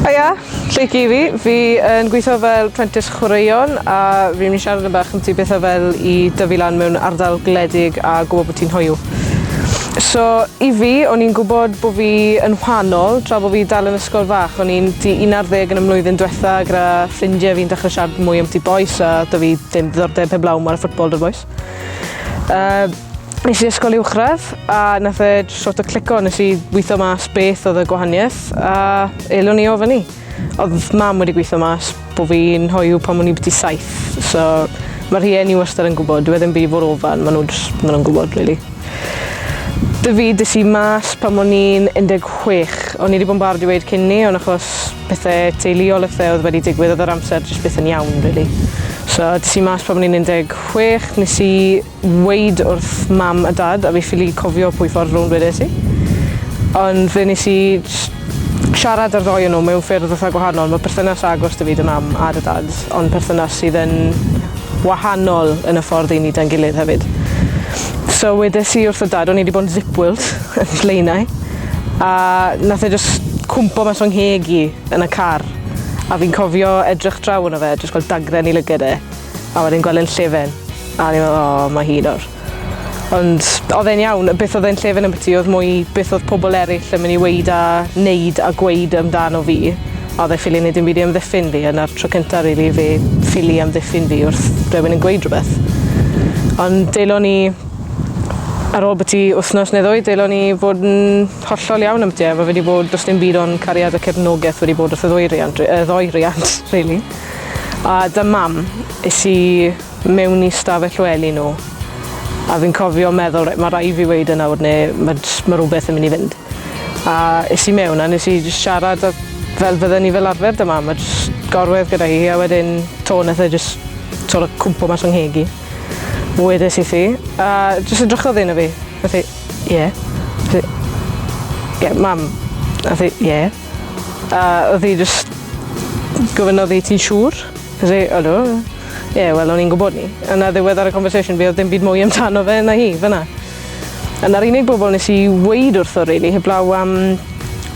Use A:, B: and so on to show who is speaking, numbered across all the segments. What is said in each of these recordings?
A: Hiya, lle i fi? Fi yn gweithio fel prentis chwaraeon a fi'n mynd i siarad yn bach amti beth o fel i dyfu lan mewn ardal gwledig a gwybod bod ti'n hoiw. So, i fi, o'n i'n gwybod bod fi yn wahanol tra bod fi dal yn ysgol fach. O'n i'n di 11 yn y mlwyddyn diwetha gyda ffrindiau fi'n dechrau siarad mwy amti bois a da fi ddim ddiddordeb heblaw mor y ffwtbol dy'r bois. Uh, nes i ysgol uwchradd a nath e sort o clico nes i weithio mas beth oedd y gwahaniaeth a elwn i o fyny. Oedd mam wedi gweithio mas bod fi'n hoiw pan o'n i byti saith, so mae rhieni wastad yn gwybod, dwi e ddim byd fod ofan, maen nhw'n ma nhw gwybod, really. Dy fi, dys i mas pan o'n i'n 16. O'n i wedi bod yn barod i weud cyn ni, ond achos pethe teuluol a phethe oedd wedi digwydd oedd yr amser jyst byth yn iawn really. So tis i mas pan o'n i'n 16 nes i weid wrth mam a dad a fi ffili cofio pwy ffordd rownd wedes i. Ond fe nes i siarad ar ddoi yn nhw mewn ffyrdd fatha gwahanol. Mae perthynas agos dy fi dy mam a dy dad ond perthynas sydd yn wahanol yn y ffordd i ni dan gilydd hefyd. So wedes i wrth y dad o'n i wedi bod yn zipwilt yn Blaenau a nath e jyst cwmpo mas o'n ngheg i yn y car a fi'n cofio edrych draw arno fe a jyst gweld dagren i lyged e a wedyn gweld e'n llefen a o'n i'n meddwl o ma' hi nawr. Ond oedd e'n iawn, y beth oedd e'n llefen ambyti oedd mwy beth oedd pobl eraill yn mynd i weud a neud a gweud amdano fi a oedd e ffili neud dim byd i amddiffyn fi a 'na'r tro cynta rili i fi ffili amddiffyn fi wrth rywun yn gweud rwbeth. Ond delon ni Ar ôl byti wythnos neu ddwy deilon i fod yn hollol iawn am ti a ma' fe 'di bod do's dim byd ond cariad a cefnogeth wedi bod wrth y ddwy riant ri- yy ddoi riant rili. A 'da Mam. Es i mewn i stafell wely nhw a fi'n cofio meddwl reit ma' rai' fi weud e nawr ne' ma' js ma' rwbeth yn myn' i fynd. A es i mewn a nes i js siarad a fel fydden ni fel arfer 'da Mam a js gorwedd gyda hi a wedyn 'to neth e jys t'wod yy cwmpo mas fy ngheg i. Wedes i thi, a jyst edrychodd un o fi. Nath hi, ie. Ie, yeah, mam. Nath hi, ie. A oedd hi jyst gofyn oedd hi ti'n siŵr? Nath hi, ydw. Ie, yeah, wel, o'n i'n gwybod ni. A na ddiwedd ar y conversation fi, oedd dim byd mwy amdano fe na hi, fyna. A na'r unig bobl nes i weid wrtho, really, heblaw am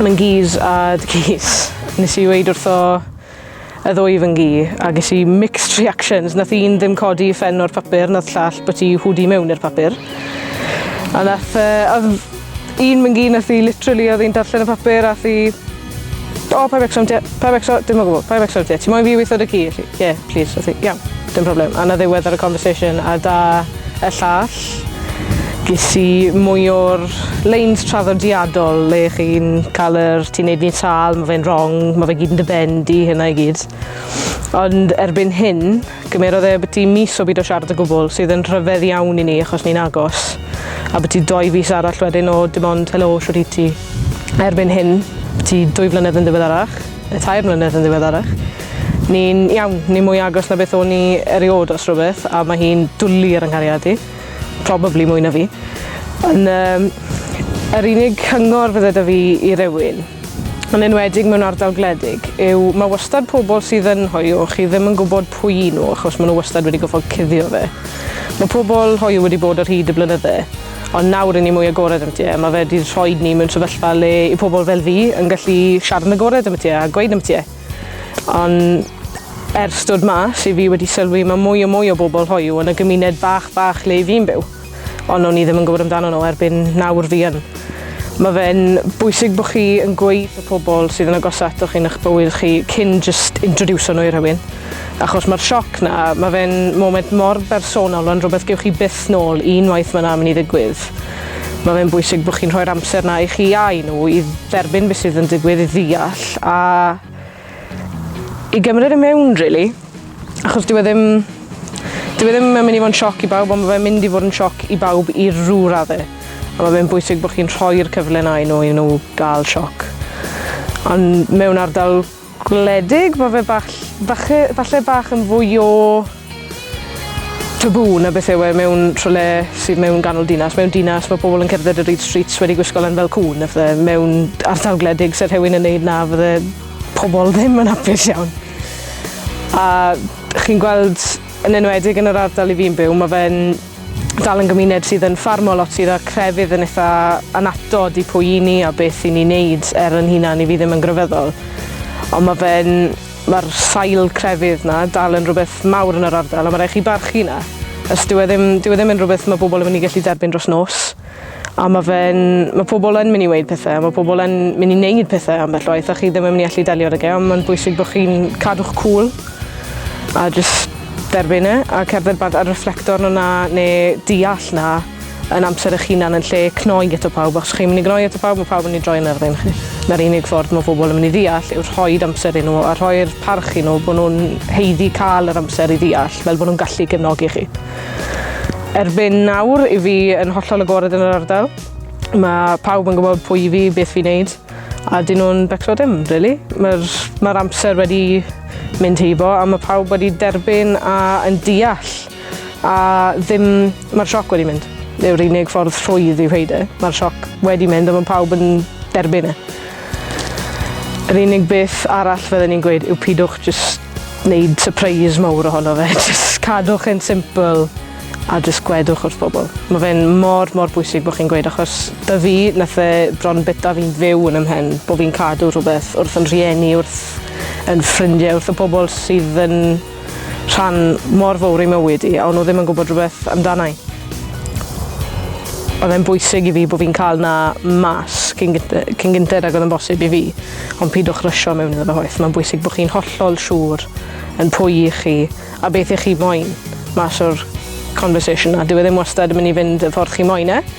A: Myn Gees a Dy Gees. Nes i weid wrtho y ddwy fy ngi, a ges i mixed reactions. Nath un ddim codi ffen o'r papur, nath llall bod i hwdi mewn i'r papur. A nath, uh, oedd un fy ngi nath i literally oedd hi'n darllen y papur a thi... O, pa becsom ti, pa becsom, dim o gwbl, pa becsom ti, ti moyn fi weithio dy ci? Ie, yeah, please, oedd hi, iawn, dim problem. A na ddiwedd ar y conversation a da y llall. Ges i mwy o'r leins traddodiadol le chi'n cael yr ti'n neud fi'n sâl, ma' fe'n rong, ma' fe gyd yn dy ben di, hynna i gyd. Ond erbyn hyn, gymerodd e byti mis o byd o siarad o gwbl, sydd yn rhyfedd iawn i ni achos ni'n agos. A byti doi fis arall wedyn o dim ond helo, shwt wyt ti? Erbyn hyn, byti dwy flynedd yn ddiweddarach, Tair mlynedd yn ddiweddarach. Ni'n iawn, ni mwy agos na beth o'n i eriod os rhywbeth a mae hi'n dwli ar 'y nghariad i. Probably mwy na fi. Yn um, yr unig cyngor fydde da fi i rywun, yn enwedig mewn ardal gwledig, yw mae wastad pobl sydd yn hoiw, chi ddim yn gwybod pwy i nhw achos maen nhw wastad wedi goffod cuddio fe. Mae pobl hoiw wedi bod ar hyd y blynydde, Ond nawr i ni mwy agored am ti a mae fe wedi rhoed ni mewn sefyllfa le i pobl fel fi yn gallu siarad yn agored am ti a gweud am ti. Ond ers dod mas i fi wedi sylwi mae mwy o mwy o bobl hoyw yn y gymuned bach bach le i fi'n byw. Ond o'n i ddim yn gwybod amdano nhw erbyn nawr fi yn. Mae fe'n bwysig bod chi yn gweud y pobl sydd yn agos ato chi yn eich bywyd chi cyn just introducio nhw i rhywun. Achos mae'r sioc 'na, mae fe'n moment mor bersonol, mae'n rhywbeth gewch chi byth nôl unwaith mae 'na mynd i ddigwydd. Mae fe'n bwysig bod chi'n rhoi'r amser 'na i chi a i nhw i dderbyn beth sydd yn digwydd, i ddeall a i gymryd e mewn rili. Achos dyw e ddim... dyw e ddim yn mynd i fod yn sioc i bawb ond mae fe'n mynd i fod yn sioc i bawb i rhyw radde. A mae fe'n bwysig bod chi'n rhoi'r cyfle 'na i nhw i nhw gael sioc. Ond mewn ardal Gwledig, ma fe bach ll- fache falle bach yn fwy o taboo na beth yw e mewn rhywle sydd mewn ganol dinas. Mewn dinas ma' pobl yn cerdded y reid streets wedi gwisgo lan fel cŵn a phthe. Mewn ardal gwledig se rhywun yn neud 'na fydde pobl ddim yn apus iawn. A chi'n gweld yn enwedig yn yr ardal 'yf fi'n byw ma' fe'n dal yn gymuned sydd yn ffarmo lot sydd â'r crefydd yn eitha anatod i pwy i ni a beth i ni wneud er yn hunan i fi ddim yn grefyddol. Ond mae fe'n... mae'r sail crefydd na dal yn rhywbeth mawr yn yr ardal a mae rhaid chi barchu na. Os dyw e ddim, dyw e ddim yn rhywbeth mae bobl yn mynd i gallu derbyn dros nos. A mae fe'n... Mae pobl yn mynd i weud pethau, mae pobl yn mynd i wneud pethau ambell waith a chi ddim yn mynd i allu delio â fe, ond mae'n bwysig bod chi'n cadw'ch cool a jyst derbyn e a cerdded bant a reflector arno 'na neu deall 'na yn amser eich hunan yn lle cnoi ato pawb achos chi'n mynd i gnoi ato pawb mae pawb yn mynd i droi yn erbyn chi. Na'r unig ffordd mae pobl yn mynd i ddeall yw rhoi amser i nhw a rhoi'r parch i nhw bod nhw'n haeddu cael yr amser i ddeall fel bod nhw'n gallu gefnogi chi. Erbyn nawr, i fi yn hollol agored yn yr ardal. Mae pawb yn gwybod pwy i fi, beth fi'n neud, a dyn nhw'n becso dim, really. Mae'r ma amser wedi mynd heibo, a mae pawb wedi derbyn a yn deall, a ddim... Mae'r sioc wedi mynd. Yw'r unig ffordd rhwydd i wneud e. Mae'r sioc wedi mynd a mae pawb yn derbyn e. Yr unig beth arall fydden i'n gweud yw pidwch jyst wneud surprise mawr ohono fe. Jyst cadwch e'n simple a jyst gwedwch wrth bobl. Mae fe'n mor, mor bwysig bod chi'n gweud achos da fi, nath e bron bita fi'n fyw yn ymhen bod fi'n cadw rhywbeth wrth yn rhieni, wrth yn ffrindiau, wrth y pobl sydd yn rhan mor fowr ei mywyd i a o'n nhw ddim yn gwybod rhywbeth amdana i. Oedd e'n bwysig i fi bod fi'n cael na mas cyn gynted, cyn gynted ag oedd yn bosib i fi, ond pidwch rysio mewn iddo fe hoeth. Mae'n bwysig bod chi'n hollol siŵr yn pwy i chi a beth i chi moyn mas o'r conversation na. Dyw e ddim wastad yn mynd i fynd y ffordd chi moyn e,